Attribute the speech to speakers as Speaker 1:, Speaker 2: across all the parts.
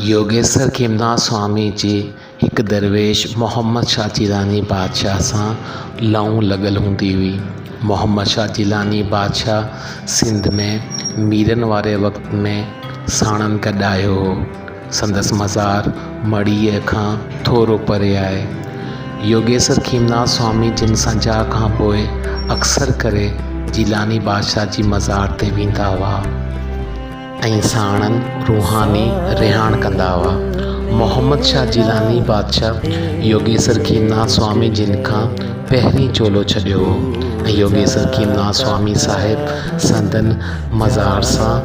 Speaker 1: يوگيسر کيمناٿ سوامي جي هڪ درويش محمد شاهه جيلاني بادشاهه سان لئون لڳل هوندي هئي. محمد شاهه جيلاني بادشاهه سنڌ ۾ ميرن واري وقت ۾ ساڻن گڏ آيو هو. سندس مزار مڙيء کان ٿورو پري آهي. يوگيسر کيمناٿ سوامي جن سنجاء کان پوء اڪثر ڪري جيلاني بادشاهه جي مزار تي ويندا هئا. ۽ ساڻن روحاني رهاڻ ڪندا هئا. محمد شاهه جيلاني بادشاهه يوگيسر کيمناسوامي جن کان پهرين چولو ڇڏيو هو ۽ يوگيسر کيمناسوامي صاحب سندن مزار سان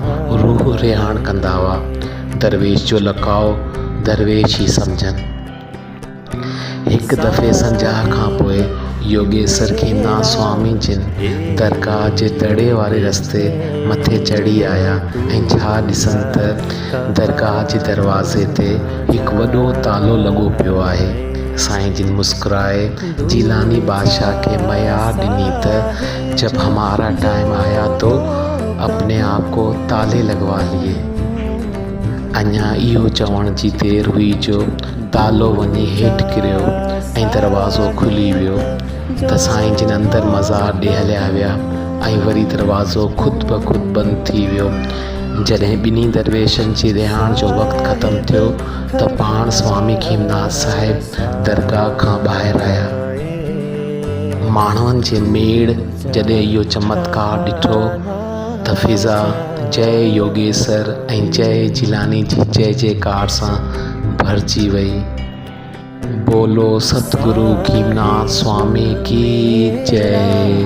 Speaker 1: روح رهاڻ ڪندا هئا. درويش جو لقاء درويش ئي سمجهن. هڪ دفعي سنجاهه کان پوء يوگيسر کي نا سوامي جن درگاهه جي دڙي واري رستي مٿي چڙهي آيا ۽ ڇا ڏسن ته درگاهه جي دروازي تي هڪ وڏو تالو لڳو پيو آهي. سائين جن مسڪرائي جيلاني بادشاهه کي ميار ڏني ته جب همارا ٽائيم آيا تو اپني آپ ڪو تالي لڳوا ليئي. اڃا اهو چوڻ جي دير هئي جو دالو وڃي هيٺ ڪريو ۽ دروازو کلي ويو ته سائين جن اندر مزار ڏي هليا ويا ۽ وري دروازو خود بخود بند ٿي ويو. جڏهن ٻنهي درويشن جي رهاڻ جو وقت ختم ٿيو ته پاڻ سوامي کيمناٿ صاحب درگاهه کان ٻاهر آيا. ماڻهن جي ميڙ جڏهن اهو چمتڪار ڏٺو ته فضا جئه يوگيسر ۽ جئه جيلاني جي جئه جئه ڪار سان ڀرجي وئي. بولو ستگرو گيناٿ سوامي ڪي جئي.